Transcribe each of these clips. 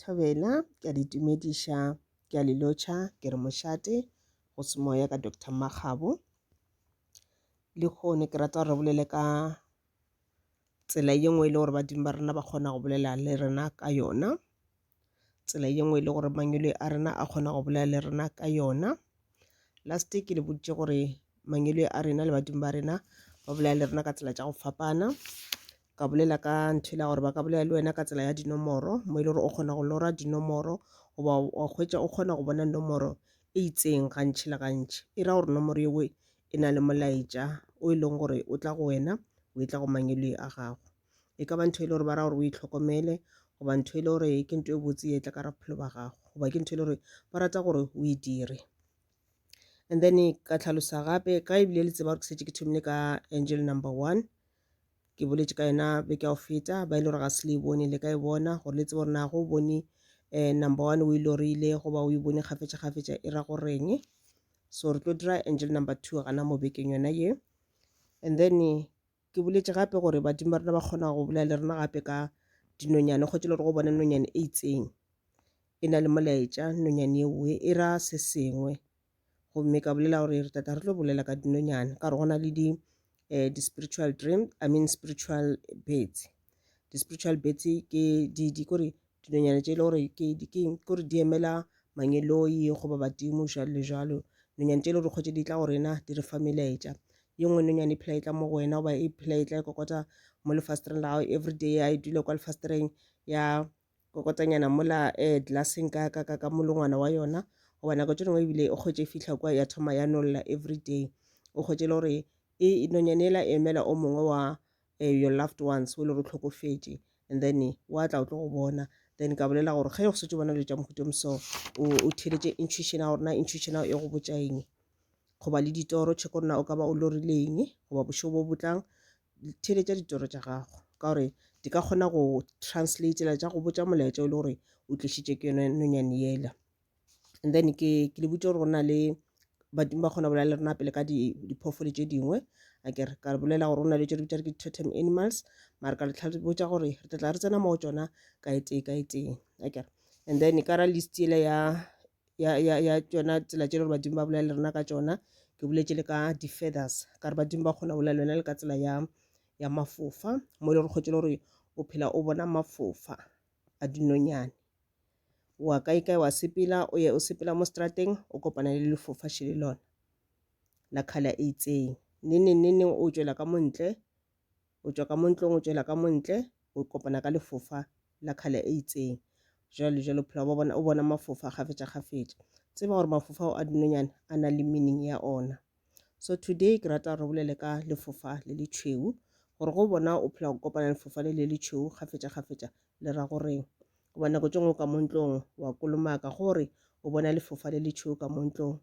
Thobela, ke a le itumediša, ke a le lotšha, ke re mošate, go se moya ka Doctor Mmakgabo. Le kgone ke rata gore re bolele ka tsela ye nngwe e le gore badimo ba rena ba kgona go bolela le rena ka yona, tsela ye nngwe e le gore mangwele a rena a kgona go bolela le rena ka yona. Last ke le boditše gore mangwele a rena le badimo ba rena ba bolela le rena ka tsela tša go fapana. ka bolela ka ntho ela gore ba ka bolela le wena ka tsela ya dinomoro mo e le gore o kgona go lora dinomoro goba wa hwetša o kgona go bona nomoro e itseng gantši le gantši e ra gore nomoro yewe e na le molaetša o e leng gore o tla go wena o e tla go mangwelwe a gago e ka ba ntho e le gore ba ra gore o e tlhokomele goba ntho e le gore ke ntho e botse e tla ka ra bophelo ba gago goba ke ntho e le gore ba rata gore o e dire and then ka tlhalosa gape ka ebile le tseba gore ke setse ke thomile ka angel number one ke boletše ka yona beke ya go feta ba ile gore ga se le e bone le ka e bona gore le tsebe gore na go bone um number one o ile gore ile goba o e bone kgafetša kgafetša e ra goreng so re tlo dira angel number two gana mo bekeng yona ye and then ke boletše gape gore badimo ba rena ba kgona go bolela le rena gape ka dinonyane kgotse le gore go bona nonyane e itseng e na le molaetša nonyane eoe e ra se sengwe gomme ka bolela gore re tata re tlo bolela ka dinonyane ka gore go na le di eh, di-spiritual dream i mean spiritual birds di-spiritual birds ke di di kore dinonyane tše e le gore ke di ke kore di emela mangeloi goba badimo jalo le jalo dinonyane tše e le gore kgwetse di tla go rena di re fa melaetša ye nngwe nonyane e phela e tla mo go wena goba e phela e tla e kokota mo lefastereng la gago everyday ya e dula kwa lefastereng ya kokotanyana mola eh, glasseng ka, ka, ka, ka molongwana wa yona goba nako tše dingwe ebile e kgwetše fihla kwa ya thoma ya nolla everyday o kgwetše le gore e nonyane ela e emela o mongwe wa eh, your loved ones o le gore o tlhokofetše and then wa tla o tlo go bona then ka bolela gore ge go setse bona dilo tša mohuto mso o theletše intuition ya gore na intuition ya e go botša eng goba le ditoro check gore na o ka ba o lorile eng goba bošego bo botlang theeletša ditoro tša gago ka gore di ka kgona go translatela tša go botša molaetša o le gore o tlišitše ke yone nonyane yela and then ke ke le botse gore go na le badimo ba kgona bolela le rena pele ka diphoofolo tše dingwe a ke re ka re bolela gore go na le tše di bitša re ke totem animals mare ka letlha botša gore re tla re tsena mo go tsona ka etee ka etee a ke re and then ka ra list ele ya ya, ya, ya tšona tsela tše le gore badimo ba bolela le rena ka tšona ke boletše le ka di-feathers ka re badimo ba kgona go bolela le wena le ka tsela ya ya mafofa mo e le gore kgotse le gore o phela o bona mafofa a dinonyane wa kae kae wa sepela o ye o sepela mo strateng o kopana le lefofa šele lona la khala e itseng neneng neneng o tšwela ka montle o tšwa ka mo ntlong o tšwela ka mo ntle o kopana ka lefofa la kgale e itseng jalo jalo phela ba bona o bona mafofa gafetša gafetša tseba gore mafofa ao a dinonyane a na le meaning ya ona so today ke rata re bolele ka lefofa le le tšhweu gore go bona o phela go kopana lefofa le le le tšhweu gafetša gafetša le ra goreng goba nako tše ngwe ka mo ntlong wa kolomaka gore o bona lefofa le le tšhweu ka mo ntlong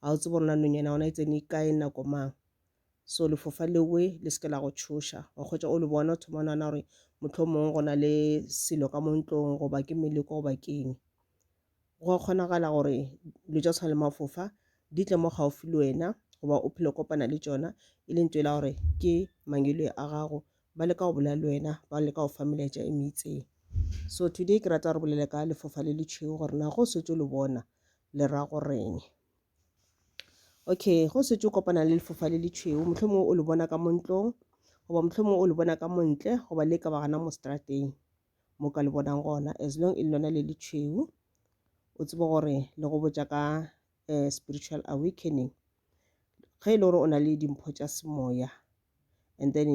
ga o tsebo rona nonyana ona e tsene kae nako mang So lefofa lewe le se ke la go tšhoša. Wa hwetša o le bona, o thoma o nagana gore mohlomongwe go na le selo ka mo ntlong goba ke meleko goba ke eng. Go a kgonagala gore dilo tša go tshwana le mafofa di tle mo gaufi le wena goba o phele o kopana le tšona e le ntho e le ya gore ke mangeloi a gago. Ba leka go bolela le wena, ba leka go fa melaetša e me itseng. So today ke rata re bolele ka lefofa le letšhweu gore na ge o šetše o le bona le ra go re'ng. okay go setse o kopana le lefofa le le tšhweu mohlomongwe o le bona ka mo ntlong goba mohlomongwe o le bona ka mo ntle goba le ka ba gana mo strateng mo ka le bonang gona as long e le lona le le tšhweu o tsebe gore le go botša ka um spiritual awakening ge e le gore o na le dimpho tša semoya. and then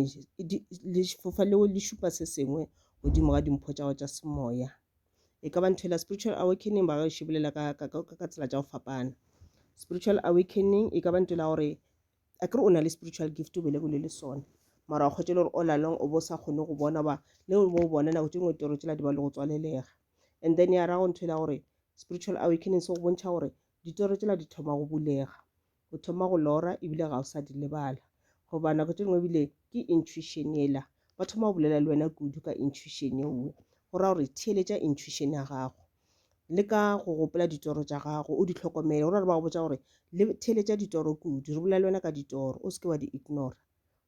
lefofa leo le šupa se sengwe godimo ga dimpho tša go tša semoya e ka ba ntho ela spiritual awakening ba gaešo bolela ka, ka, ka, ka tsela tša go fapana spiritual awakening e ka ba ntho ela gore a kere o na le spiritual gift o belegelwe le sona mara wa kgwetša le gore all along o bo sa kgone go bona ba le bo bona nako tše ngwe toro tšela di ba le go tswalelega and then ya rago ntho ela gore spiritual awakening se go bontšha gore ditoro tšela di thoma go bulega o thoma go lora ebile ga o sa di lebala goba nako tše dingwe ebile ke intuition ela ba thoma go bolela le wena kudu ka intuition yeo go ra gore theeletša intuition ya gago le ka go gopola ditoro tša gago o di tlhokomele go ra re ba go botsa gore le theeletša ditoro kudu re bolela le wena ka ditoro o se ke wa di ignora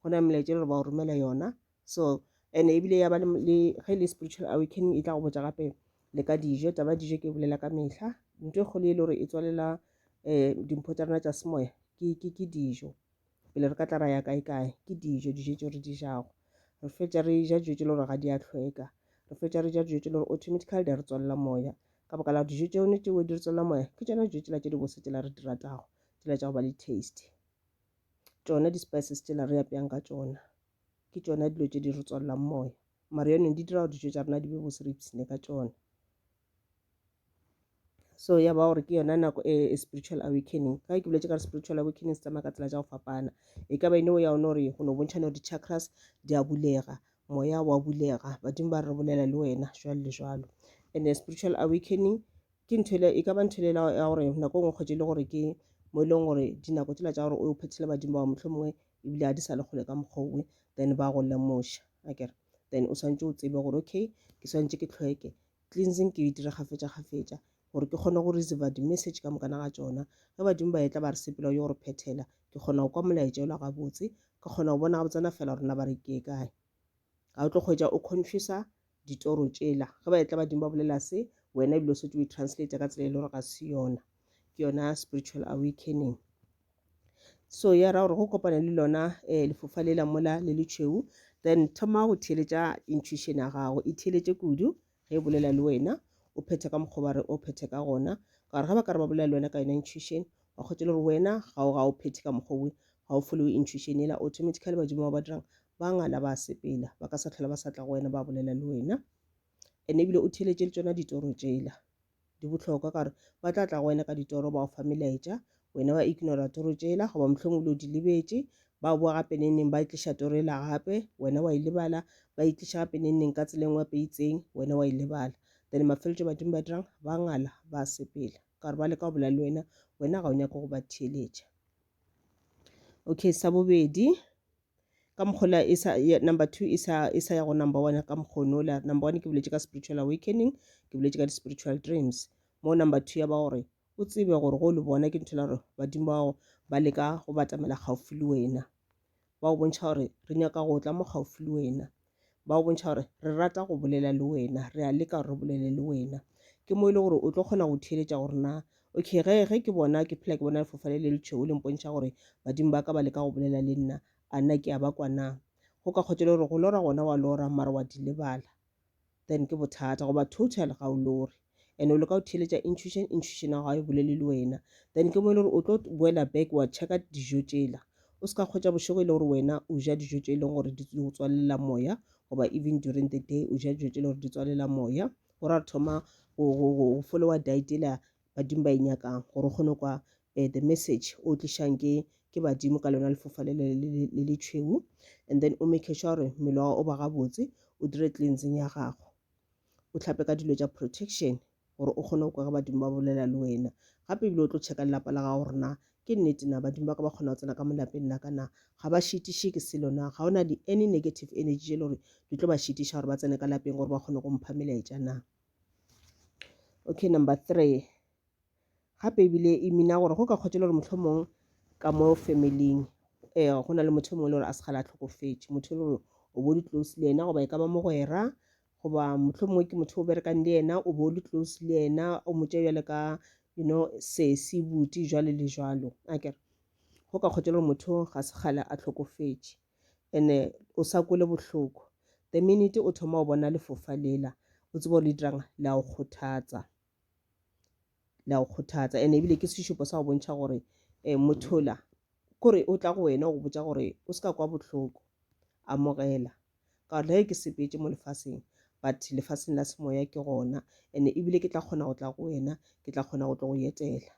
go na melaetša le gore ba o romela yona so and ebile ya ba le ge le spiritual awakening e tla go botsa gape le ka dijo taba dijo ke bolela ka mehla ntho e kgolo e le gore e tswalela um dimpho tsa rona tsa semoya ke dijo pele re ka tla ra ya kae kae ke dijo dijo tse re di jago re fetsa re ja dijo tse le gore ga di a tlhweka re fetsa re ja dijo tse le gore automatically di re tswalela moya ka baka la dijo tse one tseo di re tswalela moya ke tsona dijo tsela tse di bose tsela re di ratago tsela tsa go ba le taste tsona di-spices tsela re apeyang ka tsona Ke tšona dilo tše di re tswalelang moya mara yone di dira gore dijo tša rena di be bose re ipshine ka tšona so ya ba gore ke yona nako e, e spiritual awakening ka ke boletse ka re spiritual awakening se tsamaya ka tsela tša go fapana e ka ba ene o ya one gore go no bontšhane gore di-chakras di a bulega moya wa bulega badimo ba re bolela le wena jwalo le jwalo and spiritual awakening ke ntho e ka ba ntho e ya gore nako e nngwe kgwetse e le gore ke mo e leng gore dinako tsela tša gore o phethele badimo bao motlho mongwe ebile a di sa le kgole ka mokgwa owe then ba go lemoša akere then o swantse o tsebe gore okay ke swantse ke tlhoeke cleansing ke e dira gafetša gafetša gore ke kgone go receive di-message ka mokana ga tsona ge badimo ba etla ba re sepela yo gore phethela ke kgona go kwa molaetša ola gabotse ke kgona go bona gabotsana fela gore na ba re ke kae ga o tlo kgwetša o confusa ditoro tšela ge ba etla badimo ba bolela se wena ebile o setse o e translate ka tsela e le gore ga se yona ke yona spiritual awakening so ya ra gore go kopana le lona um lefofa le la mola le letšhweu then thoma go theeletša intuition ya gago e theeletše kudu ge e bolela le wena o phethe ka mokgwa ba re o phethe ka gona ka gore ge ba ka re ba bolela le wena ka yona intuition wa kgwetsa le gore wena ga o ga o phethe ka mokgwa owe ga o followe intuition ela automatically badimo ba ba dirang ba ngala ba sepela ba ka sa tlhola ba sa tla go wena ba bolela le wena ene ebile o theletše le tsona ditoro tšela di bohlokwa ka gore ba tla tla go wena ka ditoro ba o fa melaetša wena wa ignora toro tšela goba mohlomong o le o di lebetše ba boa gape nengneng ba itliša toro e la gape wena wa e lebala ba itliša gape nengneng ka tseleng wa peitseng wena wa e lebala then mafeletšo badimo ba dirang ba ngala ba sepela ka gore ba leka go bolela le wena wena ga o nyake go ba theeletša okay sa bobedi ka mokgola e sa number two e sa e sa ya go number one ka mokgono la number one ke boletše ka spiritual awakening ke boletše ka di-spiritual dreams mo number two ya ba gore o tsebe gore go le bona ke ntho la gore badimo bao ba leka go batamela gaufi le wena ba go bontšha gore re nyaka go tla mo gaufi le wena ba go bontšha gore re rata go bolela le wena re a leka gore re bolele le wena ke mo e le gore o tlo kgona go theeletša gore na okay ge ge ke bona ke phela ke bona lefofane le letšhweu le mpontšha gore badimo ba ka ba leka go bolela le nna a nna ke a ba kwa na go ka kgotsa le gore go lora gona wa lora mara wa di lebala then ke bothata goba total ga o lore and o leka go theeletša intuition intuition ya gago e bolele le wena then ke mo e le gore o tlo boela back wa checka dijo tšela o se ka kgwetša bošego e le gore wena o ja dijo tše e leng gore di go tswalela moya goba even during the day o ja dijo tše e le gore di tswalela moya gore a re thoma go followa diet ela badimo ba e nyakang gore o kgone kwa eh, the message o tlišang ke ke badimo ka lona lefofa le le tšhweu and then o make sure gore mmele wa o ba gabotse o dire cleansing ya gago o tlhape ka dilo tša protection gore o kgone go kwa ge badimo ba bolela le wena gape ebile o tlo checka lelapa la gago gore na ke nnete na badimo ba ka ba kgona go tsena ka mo lapeng la ka na ga ba šitiše ke selo na ga ona di any negative energy tše le gore di tlo ba šitiša gore ba tsene ka lapeng gore ba kgone go mpha melaetša na okay number three Gape ebile e mina gore go ka kgotšela gore mohlomong ka mo familing um go na le motho mongwe le gore a se gale a tlhokofetše motho e le gore o bo le close le yena goba e ka ba mogwera goba motlho mongwe ke motho o berekang le yena o bo le close le yena o motša bjale ka you know sesi buti jwalo le jwalo a kere go ka kgotša gore motho ga se kgale a tlhokofetše and-e o sa kwele bohloko the minute o thoma o bona lefofa lela o tseba gore le dirang la o kgothatsa la go kgothatsa ene ebile ke sešupo sa go bontšha gore um mothola kore o tla go wena go botsa gore o se ka kwa bohloko amogela ka gore le ke sepetse mo lefaseng but lefaseng la semoya ke gona ene ebile ke tla kgona go tla go wena ke tla kgona go tlo go etela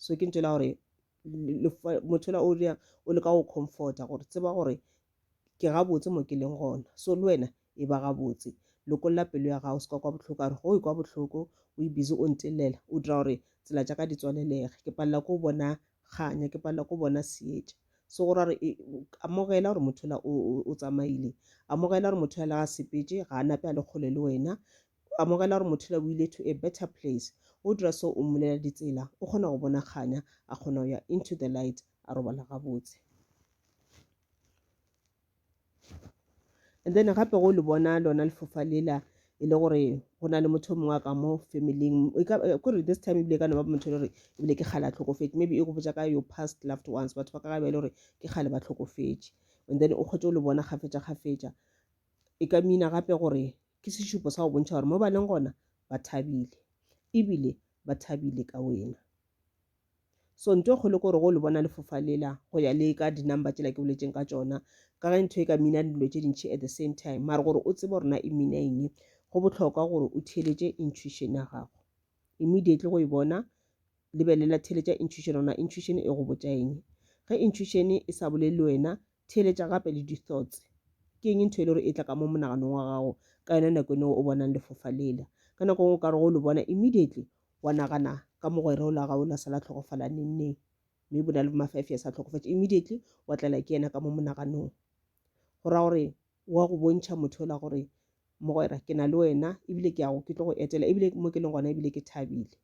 so ke ntšela gore mothola o leka go comforta gore tseba gore ke gabotse mo ke leng gona so le wena e ba gabotse lokolla pelo ya gago se ka kwa bohloko a re go e kwa bohloko o e busy o ntelela o dira gore tsela tša ka di tswalelege ke palela ko bona kganya ke palela ko bona seetša so go ra gore e, amogela gore motho la o tsamaile amogela gore motho ya le ga sepetse ga a nape a le kgole le wena O amogela gore mothula o ile to a better place. O dira so o mmulela ditsela, o kgona go bona kganya, a kgona go ya into the light, a robala gabotse. And then gape go le bona lona lefofa lela e le gore go na le motho o mongwe a ka mo famileng e eh, kore this time ebile e ka no ba motho e le gore ebile ke kgale a tlhokofetse maybe e go botsa ka your past loved ones batho ba ka ga ba e le gore ke kgale ba tlhokofetse and then o kgwetse o le bona kgafetša kgafetša e ka mina gape gore Ke sešupo sa go bontšha gore mo ba leng gona ba thabile e bile ba thabile ka wena. So nto e kgolo gore go le bona lefofa lela go ya le ka dinumber tsela ke boletseng ka tsona ka ge ntho e ka mina dilo tše dintšhi at the same time mare gore o tsebe gore na e mina eng go botlhokwa gore o theletše intuition ya gago immediately go e bona lebelela theletša intuition ona intuition e go botša eng ge intuition e sa bolele wena Theeletša gape le di-thoughts. Ke eng ntho e le gore e tla ka mo monaganong wa gago ka yona nako ene o bonang lefofa lela? Ka nako ngwe o ka re go le bona immediately wa nagana ka mogwera o la gago la sala tlhokofala neng neng. Mme bo na le bo ma-five years a tlhokofatše immediately wa tlela ke yena ka mo monaganong. Go ra gore wa go bontšha motho ola gore Mogwera, ke na le wena, ebile ke ya go, ke tlo go etela, ebile mo ke leng gona ebile ke thabile.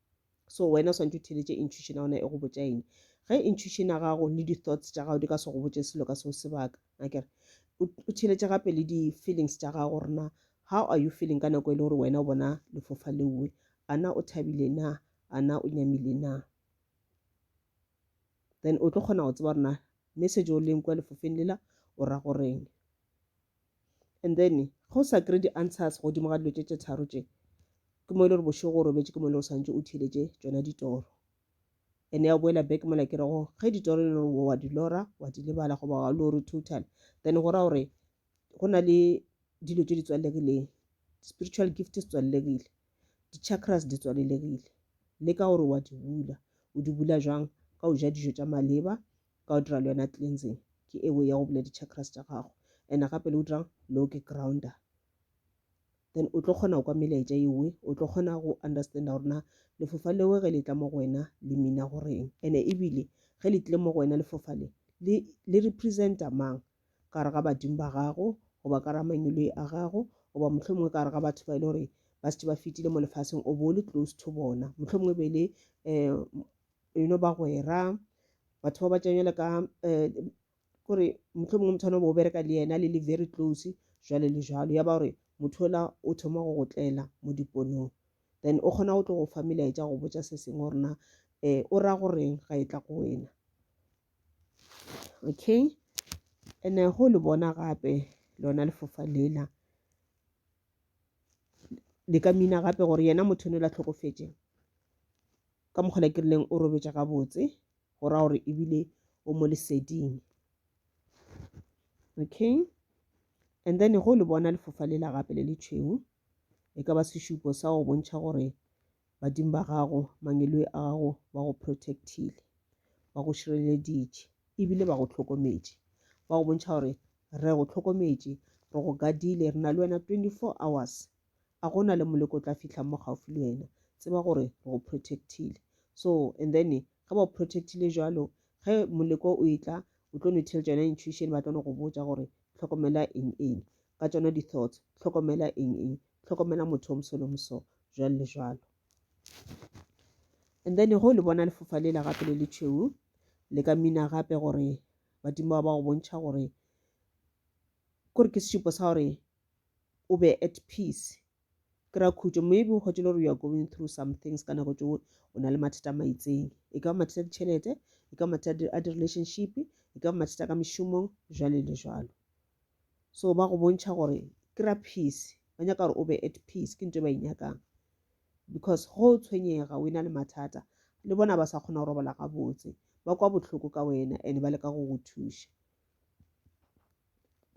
So wena o swantse o theeletše intuition ya gona e go botša eng. Ge intuition ya gago le di-thoughts tša gago di ka se go botše selo ka seo sebaka, akere o, o theeletše gape le di-feelings tša gago gore na how are you feeling ka nako e le gore wena o bona lefofa leoe. A na o thabile na, a na o nyamile na. Then o tlo kgona go tseba gore na message o leng kua lefofeng lela o ra go reng. and then ge o sa kry di answers godimo ga dilo tše tše tharo tše ke mo e le gore bošego o robetše ke mo e le gore swantse o theletše tsona ditoro and ya boela back mola ke rego ge ditoro e le gore wa di lora wa di lebala goba wa lore total then go ra gore go na le dilo tše di tswalegileng spiritual gift se tswalegile di-chakras di tswalelegile le ka gore wa di bula o di bula jwang ka o ja dijo tša maleba ka o dira le yona cleansing ke e way ya go bula di-chakras tša gago and gape le o dirang lo ke grounder then o tlo kgona go kwa melaetša ewe o tlo kgona go understanda gore na lefofa lewe ge le tla mo go wena le mina goreng and-e ebile ge le tlile mo go wena lefofa le le representa mang ka re ga badimo ba gago goba ka ra manyoloi a gago goba motlho mongwe ka re ga batho ba e le gore ba setse ba fetile mo lefaseng o bo le close to bona motlho mongwe be le um you know bagwera batho ba ba tšanywa le ka um kore motlho mongwe motho ane bo bereka le yena le le very close jwale le jwalo ya ba gore motho ola o thoma go go tlela mo diponong then o kgona go tlo go fa melaetša go botsa se sengwe gore na um o ra goreng ga e tla go wena okay and go le bona gape lona lefofa lela le ka mina gape gore yena motho o ne la tlhokofetšeng ka mokgwa ne ke rileng o robetša gabotse go ra gore ebile o mo leseding okay and then go le bona lefofa le la gape le le tšhweu e ka ba sešupo sa go bontšha gore badimo ba gago mangelo a gago ba go protectile ba go šireleditše ebile ba go tlhokometše ba go bontšha gore re go tlhokometše re go gadile re na le wena 24 hours a go na le moleko o tla fihla mo gaufi le wena tseba gore re go protectile so and then ge ba o protectile jalo ge moleko o e tla o tlo no tell tsona intuition ba tlo no go botsa gore tlhokomela eng eng ka tsona di-thoughts tlhokomela eng eng tlhokomela motho o mosolo moso jwalo le jwalo and then go le bona lefofa lela gape le le tšhweu le ka mina gape gore badimo ba ba go bontšha gore kore ke sesupo sa gore o be at peace kry-a khutšo maybe o kgwetše le gore you are going through some things ka nako tšeo o na le mathata a maitseng e ka ba mathata a ditšhelete e ka ba mathata a di-relationship e ka ba mathata ka mešomong jwale le jwalo so ba go bontšha gore kry-a peace ba nyaka gore o be at peace ke ntho e ba e nyakang because go o tshwenyega o e na le mathata le bona ba sa kgona go robala gabotse ba kwa bohloko ka wena and ba leka go go thuša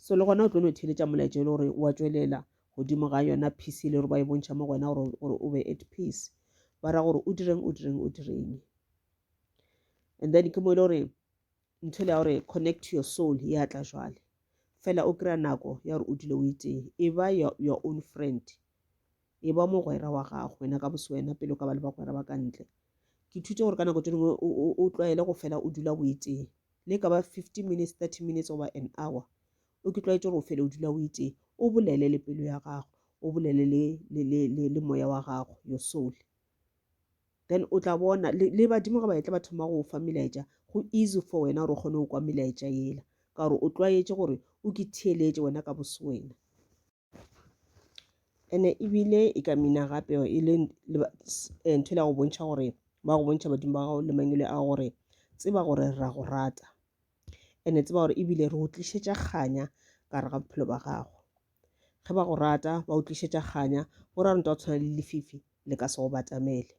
so le gona o tlo no theletša molaetša e le gore wa tšwelela godimo ga yona peace e le gore ba e bontšha mo go wena gore o be at peace ba ra gore o direng o direng o direng and then ke mo e le gore ntho le ya gore connect to your soul ya tla jwale fela o kry-a nako ya gore o dule o itee e ba your own friend e ba mogwera wa gago wena ka boswena pele o ka ba le bagwera ba ka ntle ke thute gore ka nako tse dingwe o tlwaele go fela o dula o etee le ka ba fifteen minutes thirty minutes oba an hour o ke tlwaetse gore o fele o dula o etee o bolele le pelo ya gago o bolele le moya wa gago your soul then o tla bona le badimo ga ba etla ba thoma go fa melaetša go easy for wena gore o kgone go kwa melaetša yela ka gore o tlwaetse gore o ke theeletše wena ka boswena ene ebile e ka mina gape e le eh, ntho le go bontšha gore ba go bontšha badimo ba gago le mangwele a gore tseba gore ra go rata ene tseba gore ebile re o tlišetša kganya ka re ga bophelo ba gago ge ba go rata ba o tlišetša kganya go ra ntwa tshwana le lefifi le ka se go batamele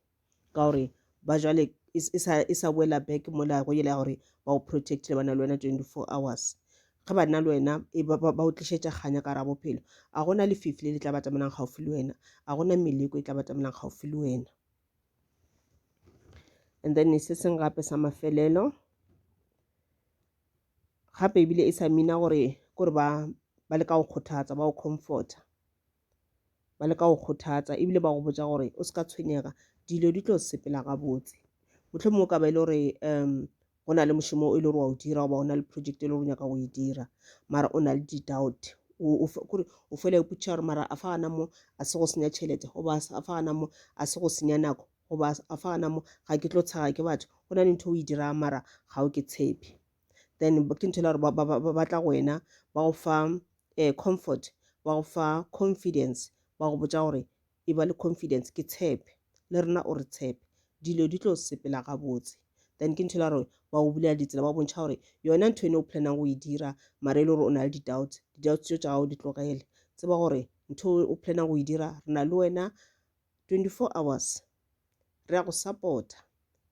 ka gore ba jwale e sa e sa boela back mo la go yela gore ba o protect le bana le wena 24 hours ge ba nna le wena e ba ba o tlišetša kganya ka ra bophelo a gona le fifi le le tla batamelang gaufi le wena a gona meleko e tla batamelang gaufi le wena and then se seng gape sa mafelelo gape ebile e sa mina gore kore ba ba le ka go kgothatsa ba o comforta ba leka go kgothatsa ebile ba go botša gore o se ka tshwenyega dilo di tlo sepela gabotse mohlomongwe ka ba e le gore um go na le mošomo e le gore wa o dira goba o na le project e le gore o nyaka go e dira mara o na le di-doubt kore o fela o putša gore mara a fa gana mo a se go senya tšhelete goba a fa gana mo a se go senya nako goba a fa gana mo ga ke tlo tshega ke batho go na le ntho o e dirang mara ga o ke tshepe then ke ntho e gore ba tla go wena ba go fa um comfort ba go fa confidence ba go botsa gore e ba le confidence ke tshepe le rena o re tshepe dilo di tlo sepela gabotse then ke ntho e gore ba go bulela ditsela ba bontšha gore yona ntho ene o planang go e dira mara e le gore o na le di-doubts di-doubts tso tsa gago di tlogele tseba gore ntho o planang go e dira re na le wena 24 hours re ya go supporta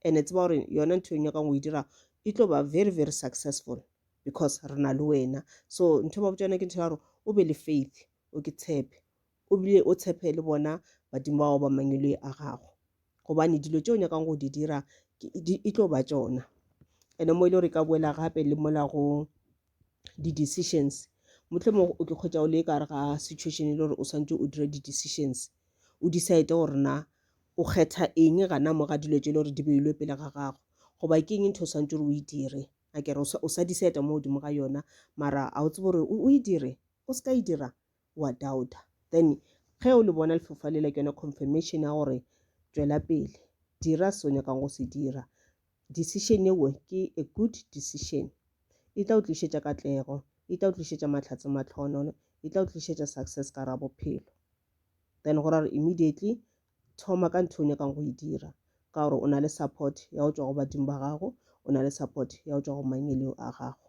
and tseba gore yona ntho e nyakang go e dira e tlo ba very very successful because re na le wena so ntho e ba botsa yona ke ntho ya gore o be le faith o ke tshepe o bile o tshepe le bona badimo bao ba mangwelwe a gago gobane dilo tse o nyakang go di dira e tlo ba tsona ene mo e le gore e ka boela gape le mola go di-decisions mohlomongwe o tlo kgwetsa o le ka gare ga situation e le gore o swanetse o dira di-decisions o decide gore na o kgetha eng gana mo ga dilo tse e le gore di beilwe pele ga gago goba ke eng ntho o swanetse gore o e dire a kere o sa decide mo godimo ga yona mara a o tsebe gore o e dire o se ka e dira wa doubta then ge o le bona lefofa lela ke yone confirmation ya gore tšwela pele dira se o nyakang go se dira Decision yeo ke a good decision. E tla o tlišetša katlego. E tla o tlišetša mahlatse mahlohonolo. E tla o tlišetša success ka gare ga bophelo. Then go ra gore immediately thoma ka ntho e o nyakang go e dira ka gore o na le support ya go tšwa go badimo ba gago, o na le support ya go tšwa go mangweleo a gago.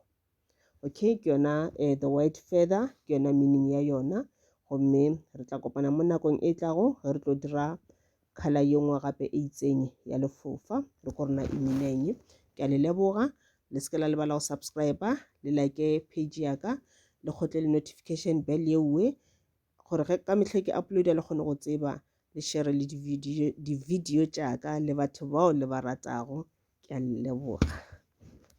Okay, ke yona uh, the word feather, ke yona meaning ya yona. Gomme re tla kopana mo nakong e tlago ge re tlo dira khala ye nngwe gape e itseng ya lefofa re ko rena e mineng ke a le leboga le se ke la lebala go subscribe le like page ya ka le kgotle le notification bell ye nngwe gore ge ka metlha ke uploada le kgone go tseba le share le di-video di-video tša ka le batho bao le ba ratago ke a le leboga